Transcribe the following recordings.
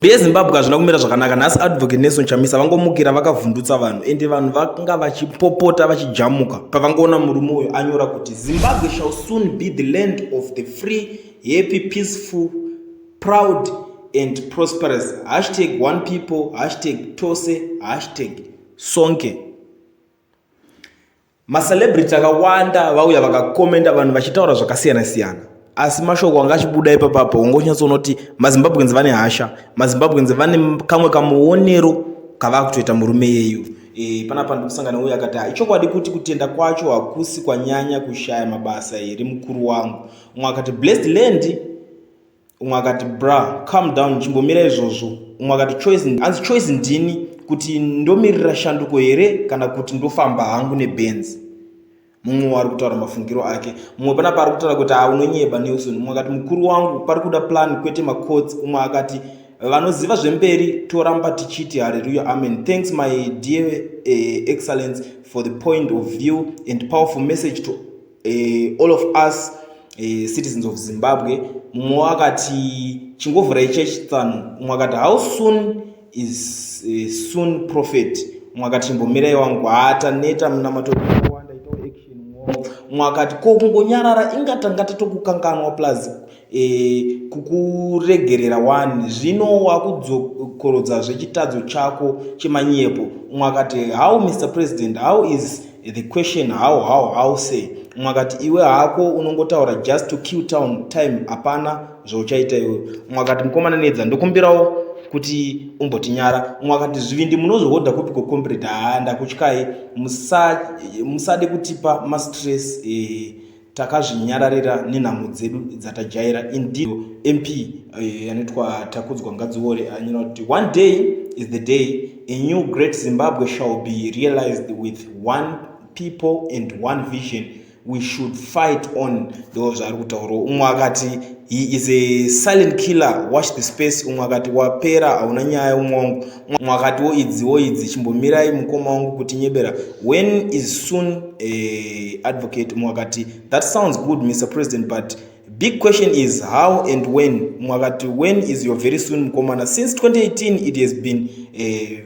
Rezimbabwe hazvina kumira zvakanaka nhasi advocate Nelson Chamisa vangomukira vakavhundutsa vanhu ende vanhu vanga vachipopota vachijamuka pavangoona murume uyo anyora kuti Zimbabwe shall soon be the land of the free happy peaceful proud and prosperous hashtag one people hashtag tose hashtag sonke Macelebrity akawanda vauya vakakomenda vanhu vachitaura zvakasiyana siyana asi mashoko anga achibuda ipapapo ungonyatsoona kuti mazimbabweans vane hasha mazimbabweans vane kamwe kamuonero kavaa kutoita murume yeyu e, panapa ndikusangana uye akati ah, ichokwadi kuti kutenda kwacho hakusi kwanyanya kushaya mabasa here mukuru wangu umwe akati blessed land umwe akati bra calm down chimbomira izvozvo umwe akati choice hanzi choice ndini kuti ndomirira shanduko here kana kuti ndofamba hangu nebenzi mumwe waari kutaura mafungiro ake mumwe pana paari kutaura kuti a unonyeba nelson umwe akati mukuru wangu pari kuda plan kwete macots umwe akati vanoziva zvemberi toramba tichiti hareruya amen thanks my dear uh, excellence for the point of view and powerful message to uh, all of us uh, citizens of zimbabwe mumwe wakati chingovhurai church tsano umwe akati how soon is uh, soon prophet umwe akati chimbomirai wangu haataneta munamatokuwanda itawo action umwe akati ko kungonyarara ingatanga tatokukanganwa plus e, kukuregerera wani zvino wakudzokorodza zvechitadzo chako chemanyepo umwe akati how mr president how is the question how how how say umwe akati iwe hako unongotaura just to kill town time hapana zvauchaita iwe umwe akati mukomana nedza ndokumbirawo kuti umbotinyara umwe akati zvivindi munozvihodha kupi kocombrade haa ndakutyai musade kutipa mastress eh, takazvinyararira nenhamo dzedu dzatajaira indeed mp eh, anoitwa takudzwa ngadziwore anyora kuti one day is the day a new great zimbabwe shall be realized with one people and one vision we should fight on ndo zvaari kutaurawo umwe akati he is a silent killer watch the space umwe akati wapera hauna nyaya umwe wangu mwakati wo idzi wo idzi chimbomirai mukoma wangu kuti nyebera when is soon uh, advocate mwakati that sounds good mr president but big question is how and when mwakati when is your very soon mukomana since 2018 it has been uh,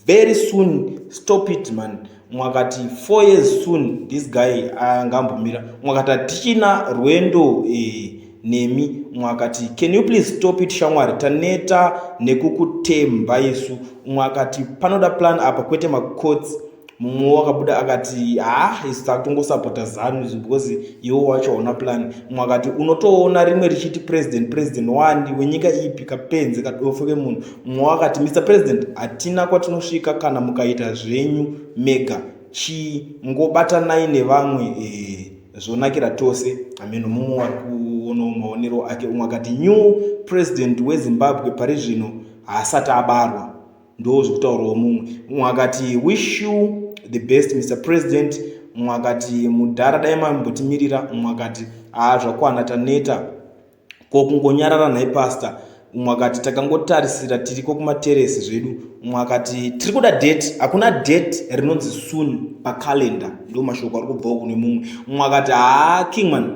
very soon stop it man mwakati four years soon this guy angambomira mwakati hatichina rwendo eh, nemi mwakati can you please stop it shamwari taneta nekukutemba isu mwakati panoda plan apa kwete macots mumwe wakabuda akati ha isu takutongosapota zanu because iwo wacho hauna plan mumwe akati unotoona rimwe richiti president president wani wenyika ipi kapenzi kadofo kemunhu mumwe wakati mr president hatina kwatinosvika kana mukaita zvenyu mega chii ngobatanai nevamwe ee zvonakira tose hameno mumwe wari kuonawo maonero ake umwe akati new president wezimbabwe pari zvino haasati abarwa ndo zvekutaurawo mumwe mumwe akati wish you the best mr president mumwe akati mudhara dai mambotimirira mumwe akati haa zvakwana taneta Ko kungonyarara nhai pastor umwe akati takangotarisira tiriko kumateresi zvedu umwe akati tiri kuda date hakuna date rinonzi soon pacalendar ndo mashoko ari kubvawo kune mumwe umwe akati haa kingman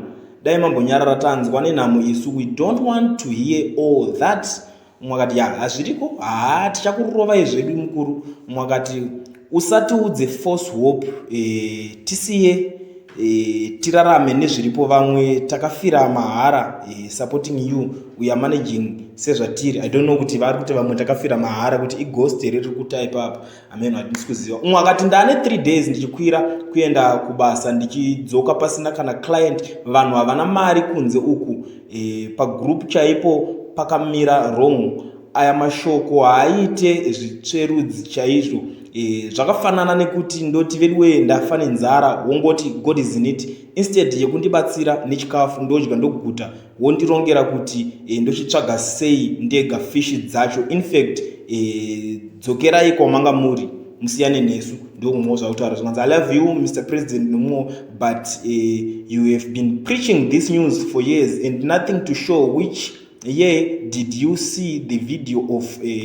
dai mambonyarara tanzwa nenhamo isu we don't want to hear all that mumwe akati ya hazviriko haa tichakurovai zvedu mukuru mumwe akati usatiudze force hope e, tisiye e, tirarame nezviripo vamwe takafira mahara e, supporting you we are managing sezvatiri i don't know kuti vari kuti vamwe takafira mahara kuti igost here riri kutaipa apa ameno hatisi kuziva umwe akati ndane three days ndichikwira kuenda kubasa ndichidzoka pasina kana client vanhu havana mari kunze uku e, pagroup chaipo pakamira wrong aya mashoko haaite zvitsverudzi chaizvo e, zvakafanana nekuti ndoti veduwee ndafa nenzara wongoti god is in it instead yekundibatsira nechikafu ndodya ndoguta wondirongera kuti e, ndochitsvaga sei ndega fishi dzacho infact e, dzokerai kwamanga muri musiyane nesu ndokumwewo zvakutaura zvikanzi i love you mr president nomwewo but uh, you have been preaching this news for years and nothing to show which year did you see the video of uh,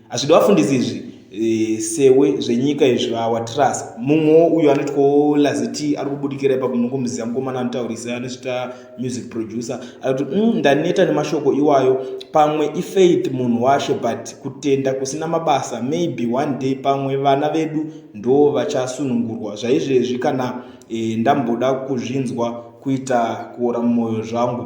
Hazvidi vafundisi izvi e, sewe zvenyika izvi awa trust mumwewo uyo anotyawo laziti ari kubudikira ipapo munongomziva mukomana anotaurisa anozvita music producer ari kuti mm, ndaneta nemashoko iwayo pamwe ifaith munhu washe but kutenda kusina mabasa maybe one day pamwe vana vedu ndo vachasunungurwa zvaizvezvi kana e, ndamboda kuzvinzwa kuita kuora mumwoyo zvangu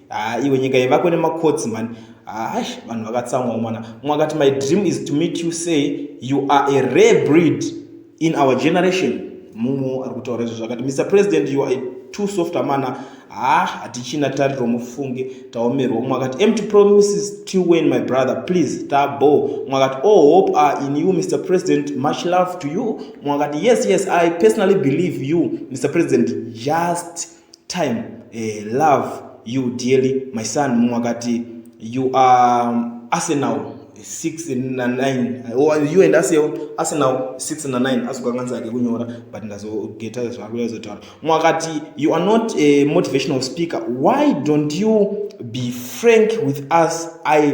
Ah, iwe nyika yevako nemakotsi mani hash ah, vanhu vakatsamwa mwana mwakati my dream is to meet you say you are a rare breed in our generation mumu ari kutaura izvo zvakati mr president you are too soft amana ha ah, hatichina tariro mufunge taomerwa mwakati empty promises till when my brother please tabo mwakati all oh, hope are in you mr president much love to you mwakati yes yes i personally believe you mr president just time eh, love you dearly my son mumwe akati you are um, arsenal 6 na 9 or you and arsenal arsenal 6 na 9 azokanganisa ake kunyora but ndazogeta zvakuya zotaura mumwe akati you are not a motivational speaker why don't you be frank with us i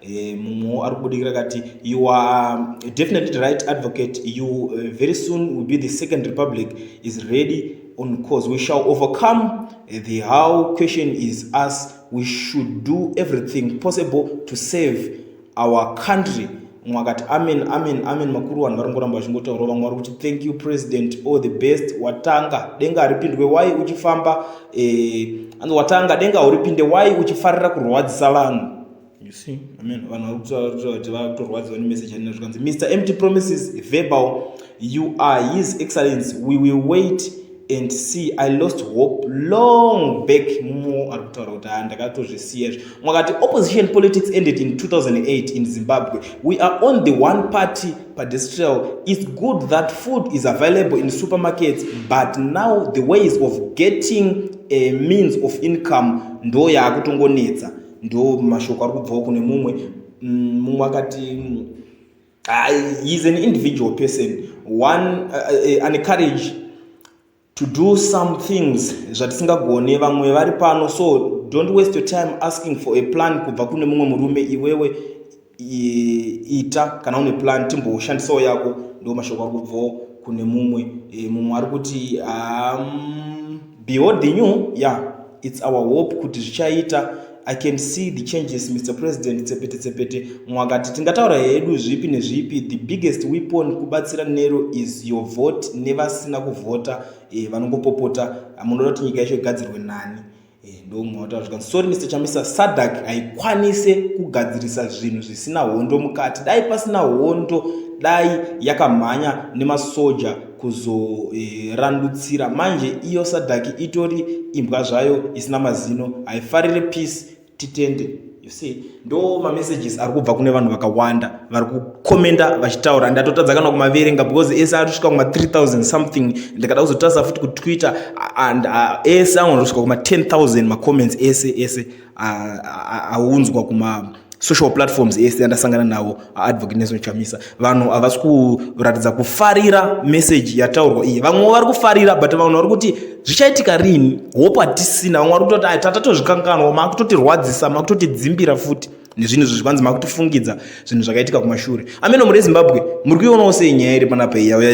Eh, mumwewo ari kubudikira akati you are um, definitely right advocate you uh, very soon will be the second republic is ready on cause we shall overcome eh, the how question is us we should do everything possible to save our country mwe akati amen amen amen makuru vanhu vari ngoramba vachingotaura vamwe vari kuti thank you president all the best watanga denga haripindwe wai uchifamba eh, anzi watanga denga hauripinde wai uchifarira kurwadzisa vanhu You see, I mean, vanhu vari kutaura kuti vari kutorwadziwa nemessage yanina zvikanzi Mr Empty Promises verbal you are his excellence we will wait and see i lost hope long back mo ari kutaura kuti ha ndakatozvisiya izvo mwakati opposition politics ended in 2008 in zimbabwe we are on the one party pedestrial its good that food is available in supermarkets but now the ways of getting a means of income ndo yaakutongonetsa ndo mashoko ari kubvawo kune mumwe mm, mumwe akati uh, he is an individual person one uh, uh, ane courage to do some things zvatisingagone vamwe vari pano so don't waste your time asking for a plan kubva kune mumwe murume iwewe ita kana une plan timboshandisawo yako ndo mashoko ari kubvawo kune mumwe e, mumwe ari kuti um, behold the new yeah it's our hope kuti zvichaita i can see the changes mr president tsepete tsepete mumwe akati tingataura hedu zvipi nezvipi the biggest weapon kubatsira nero is your vote nevasina kuvhota e, vanongopopota munoda kuti nyika yacho igadzirwe nani Eh, ndomumwe wataura zvikanzi sorry mr chamisa sadak haikwanise kugadzirisa zvinhu zvisina hondo mukati dai pasina hondo dai yakamhanya nemasoja kuzorandutsira eh, manje iyo sadaki itori imbwa zvayo isina mazino haifarire peace titende You see, ndo mamessages ari kubva kune vanhu vakawanda vari kukomenda vachitaura ndatotadza kana kumaverenga because ese ari kusvika kuma 3000 something ndikada kuzotarisa futi kutwitter and uh, ese anogona kusvika kuma 10000 macomments ese ese aunzwa uh, uh, uh, kuma social platforms ese andasangana nawo Advocate Nelson Chamisa vanhu havasi kuratidza kufarira message yataurwa iyi vamwe vari kufarira but vanhu vari kuti zvichaitika rini hope hatisina vamwe vari kutoti ai tatatozvikanganwa makutotirwadzisa makutotidzimbira futi nezvinhu izvo zvivanzi makutifungidza zvinhu zvakaitika kumashure ameno muri ezimbabwe muri kuionawo sei nyaya iri panapa iya